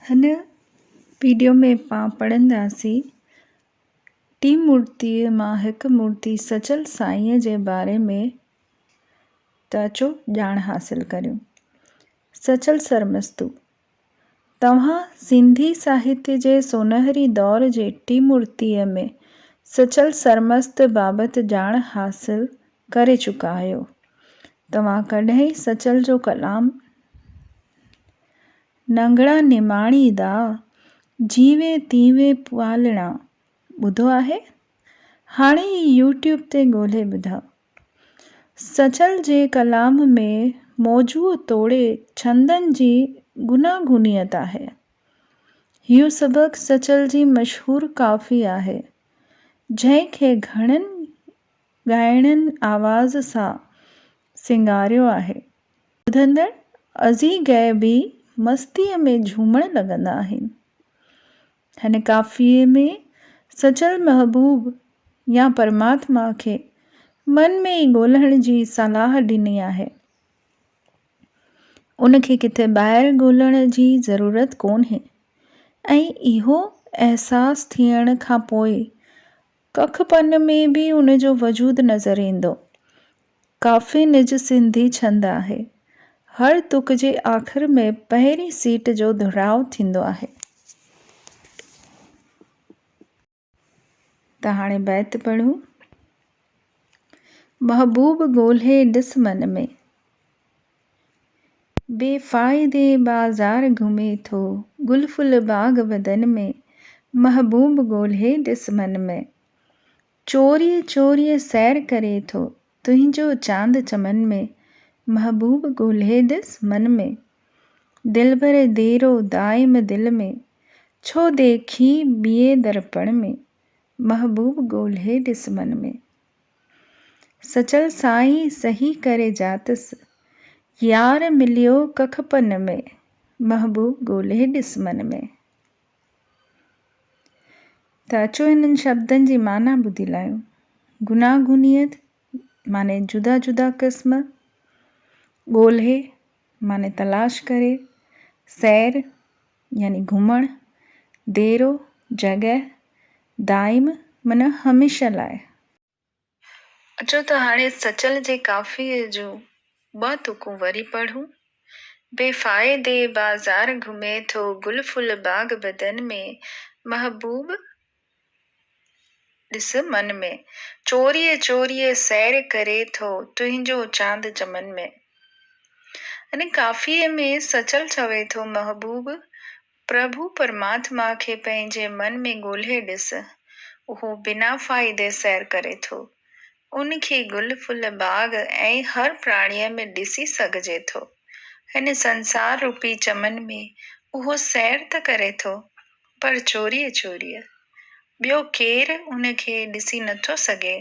هن وڊيو ۾ پان پڙهنداسين ٽين مورتي مان هڪ مورتي سچل سائينء جي باري ۾ ته اچو ڄاڻ حاصل ڪريون. سچل سرمستو، توهان سنڌي ساهتيه جي سونهري دور جي ٽين مورتيء ۾ سچل سرمست بابت ڄاڻ حاصل ڪري چڪا آهيو توهان ڪڏهن سچل جو ڪلام ننگڙا نماڻي دا جيوي تيوي پالڻا ٻڌو آهي هاڻي ئي يوٽيوب تي ڳولهي ٻڌاء سچل جي ڪلام ۾ موضوع توڙي ڇندن جي گوناگونيت آهي هيو سبق سچل جي مشهور ڪافي آهي جنهن کي گهڻن ڳائڻين آواز سان سينگاريو آهي. ٻڌندڙ ازي غيبي مستيء ۾ جهومڻ لڳندا آهن. هن ڪافيي ۾ سچل محبوب يا پرماتما کي من ۾ ئي ڳولهڻ جي صلاح ڏني آهي. ان کي ڪٿي ٻاهر ڳولهڻ جي ضرورت ڪونهي ۽ اهو احساس ٿيڻ کان پوء ڪک پن ۾ به ان جو وجود نظر ايندو. ڪافي نج سنڌي ڇند آهي. هر تڪ جي آخر ۾ پهرين سيٽ جو دهراء ٿيندو آهي. ته هاڻي بيت پڙهون. محبوب ڳولهي ڏس من ۾. بي فائدي بازار گهمي ٿو گل ڦل باغ بدن ۾، محبوب ڳولهي ڏس من ۾، چوريء چوريء سير ڪري ٿو تنهنجو چاند چمن ۾، محبوب ڳولهي ڏس من ۾، دلبر ديرو دائم دل ۾، ڇو ديکين ٻيئي درپڻ ۾، محبوب ڳولهي ڏس من ۾. سچل سائين سهي ڪري جاتس. يار مليو ڪک پن ۾، محبوب ڳولي ڏس من ۾. ته اچو هنن شبدن جي معنيٰ ٻڌي لاهيون. گوناگونيت معني جدا جدا قسم، ڳولي معني تلاش ڪري، سير يعني گهمڻ، ديرو، جڳهه، دائم معنيٰ هميشه لاء. اچو ته هاڻي سچل جي ڪافيء جون ٻه تڪون وري پڙهون. بي فائدي بازار گهمي ٿو گل ڦل باغ بدن ۾، محبوب ڏس من ۾، چوريء چوريء سير ڪري ٿو، تنهنجو چاند چمن ۾. ان ڪافيء ۾ سچل چوي ٿو محبوب، پرڀو پرماتما کي پنهنجي من ۾ ڳولهي ڏس، اهو بنا فائدي سير ڪري ٿو. ان کي گل ڦل باغ ۽ هر پراڻيء ۾ ڏسي سگهجي ٿو. هن سنسار روپي چمن ۾ اهو سير ته ڪري ٿو. پر چوريء چوريء ٻيو ڪير ان کي ڏسي نٿو سگهي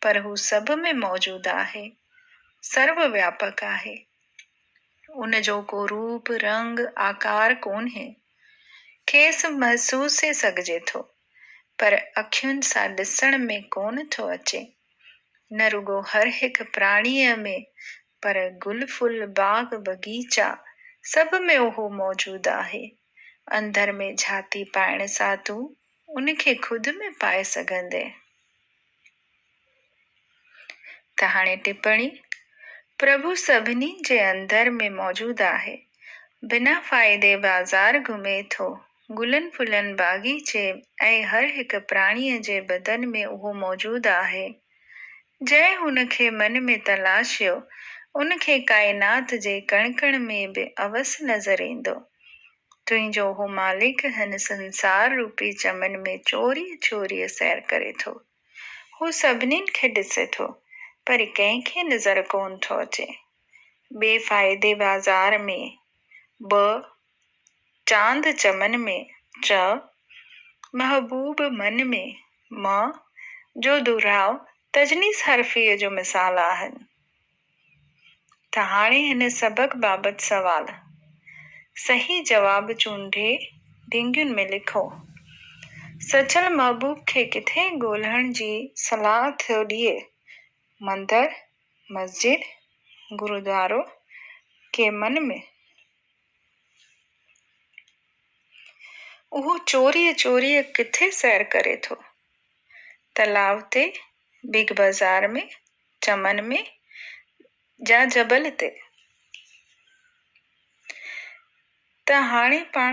پر هو سڀ ۾ موجود آهي، سرو وياپڪ آهي. ان جو ڪو روپ، رنگ، آڪار ڪونهي. کيس محسوسي سگهجي ٿو پر اکين سان ڏسڻ ۾ ڪونه ٿو اچي. نه رڳو هر هڪ پراڻيء ۾ پر گل ڦل، باغ بغيچا سڀ ۾ اهو موجود آهي. اندر ۾ جھاتي پائڻ سان تون ان کي خود ۾ پائي سگھندين. ته هاڻي ٽپڻي، پرڀو سڀني جي اندر ۾ موجود آهي، بنا فائدي بازار گھمي ٿو، گلن ڦلن باغيچي ۽ هر هڪ پراڻيء جي بدن ۾ اهو موجود آهي. جنهن هن کي من ۾ تلاشيو، ان کي ڪائنات جي ڪڻ ڪڻ ۾ به اوس نظر ايندو. تنهنجو اهو مالڪ هن سنسار روپي چمن ۾ چوريء چوريء سير ڪري ٿو. هو سڀنين کي ڏسي ٿو، پر ڪنهن کي نظر ڪونه ٿو اچي. بي فائدي بازار ۾ به چاند چمن ۾، چئه محبوب من ۾، م جو دهراء تجنيس حرفيء جو مثال آهن. ته هاڻي هن سبق بابت سوال، صحيح جواب چونڊي ڍينگين ۾ لکو. سچل محبوب کي ڪٿي ڳولهڻ جي صلاح ٿيو ڏئي؟ مندر، مسجد، گرودوارو، ڪي من ۾؟ اهو چوريء چوريء ڪٿي سير ڪري ٿو؟ تلاء تي، بگ بازار ۾، چمن ۾، يا جبل تي؟ ته هاڻي پاڻ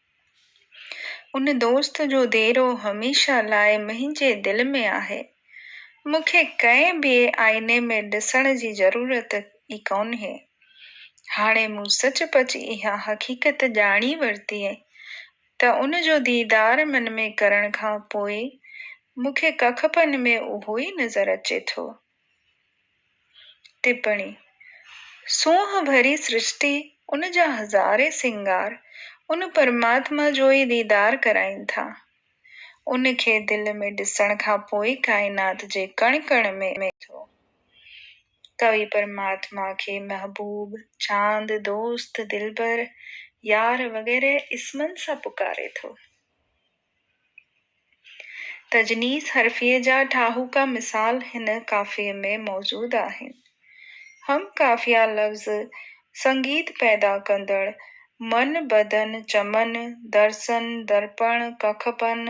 ان دوست جو ديرو هميشه لاء منهنجي دل ۾ آهي. مون کي ڪنهن ٻئي آئيني ۾ ڏسڻ جي ضرورت ئي ڪونهي. هاڻي مون سچ پچ اها حقيقت ڄاڻي ورتي ته ان جو ديدار من ۾ ڪرڻ کان پوء مون کي ڪکپن ۾ اهو ئي نظر اچي ٿو. ٽپڻي، سونهن ڀري سرشتي، ان جا هزارين سينگار، ان پرماتما جو ئي ديدار ڪرائين ٿا. ان کي دل ۾ ڏسڻ کان پوء ئي ڪائنات جي ڪڻ ڪڻ ۾ اچي ٿو. ڪوي پرماتما کي محبوب، چاند، دوست، دلبر، يار وغيره اسمن سان پڪاري ٿو. تجنيس حرفيء جا ٺاهوڪا مثال هن قافيي ۾ موجود آهن. هم قافيه لفظ سنگيت پيدا ڪندڙ، من، بدن، چمن، درسن، درپڻ، ڪکپن،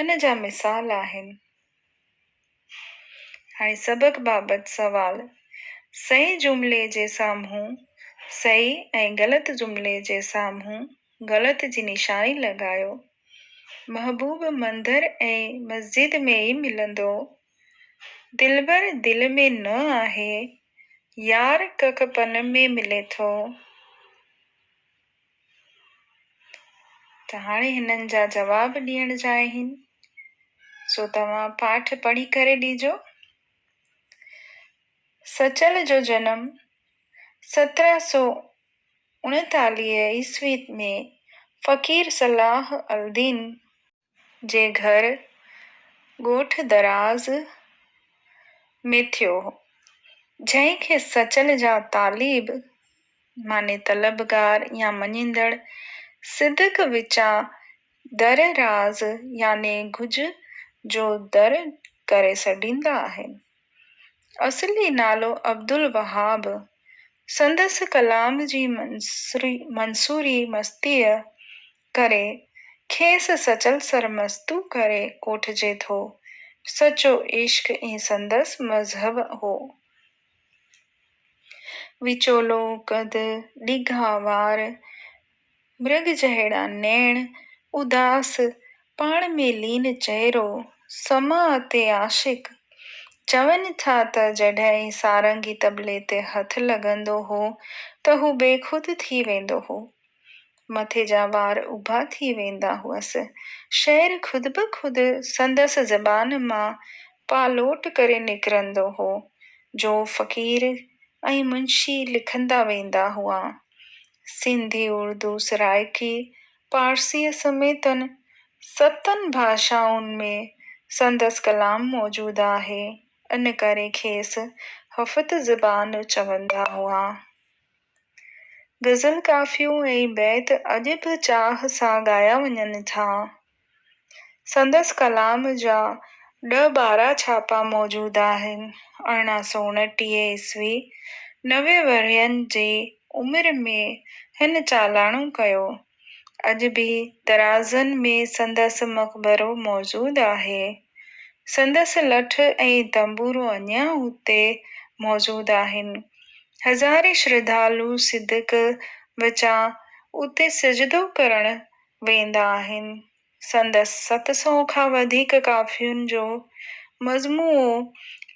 ان جا مثال آهن. هاڻي سبق بابت سوال، صحيح جملي جي سامهون صحيح ۽ غلط جملي جي سامهون غلط جي نشاني لڳايو. محبوب مندر ۽ مسجد ۾ ئي ملندو. دلبر دل ۾ نه آهي. يار ڪک پن ۾ ملي ٿو. ته هاڻي هنن جا جواب ڏيڻ جا آهن، سو توهان پاٺ پڙهي ڪري ڏيجو. سچل جو جنم سترهن سؤ اڻيتاليهه عيسوي ۾ فقير صلاح الدين جي گهر ڳوٺ دراز ۾ ٿيو هو، جنهن کي سچل جا طالب معني طلبگار يا مڃيندڙ صدق وچان در راز يعني گهج جو در ڪري سڏيندا آهن. اصلي نالو عبدالوهاب، سندس ڪلام جي منصوري مستيء ڪري، کيس سچل سرمستو ڪري ڪوٺجي ٿو. سچو عشق ئي سندس مذهب هو. وچولو قد، ڊگها وار، مرگ جهڙا نيڻ، اداس، پاڻ ۾ لين چهرو، سماء تي عاشق. چون ٿا ته جڏهن ئي سارنگي طبلي تي هٿ لڳندو هو ته هو بيخود ٿي ويندو هو. مٿي جا وار اڀا ٿي ويندا هئس. شعر خود به خود سندس زبان مان پالوٽ ڪري نڪرندو هو، جو فقير ۽ منشي لکندا ويندا هئا. سنڌي، اردو، سرائڪي، پارسيء سميتن ستن ڀاشائن ۾ سندس ڪلام موجود آهي، ان ڪري کيس هفت زبان چوندا هئا. غزل ڪافيون ۽ بيت اڄ به چاهه سان ڳايا وڃن ٿا. سندس ڪلام جا ڏهه ٻارهن ڇاپا موجود آهن. ارڙهن سؤ انٽيهه عيسوي، نوي ورهين جي عمر ۾ هن چالاڻو ڪيو. اڄ به درازن ۾ سندس مقبرو موجود آهي. سندس لٺ ۽ تنبورو اڃا اتي موجود آهن. هزارين شرڌالو صدق وچان اتي سجدو ڪرڻ ويندا آهن. سندس ست سئو کان وڌيڪ ڪافين جو مجموعو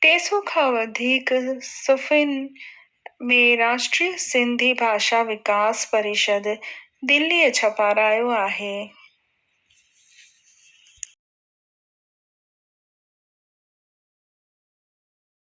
ٽي سئو کان وڌيڪ صفحن ۾ راشٽري سنڌي ڀاشا وڪاس پريشد دليء ڇپارايو آهي.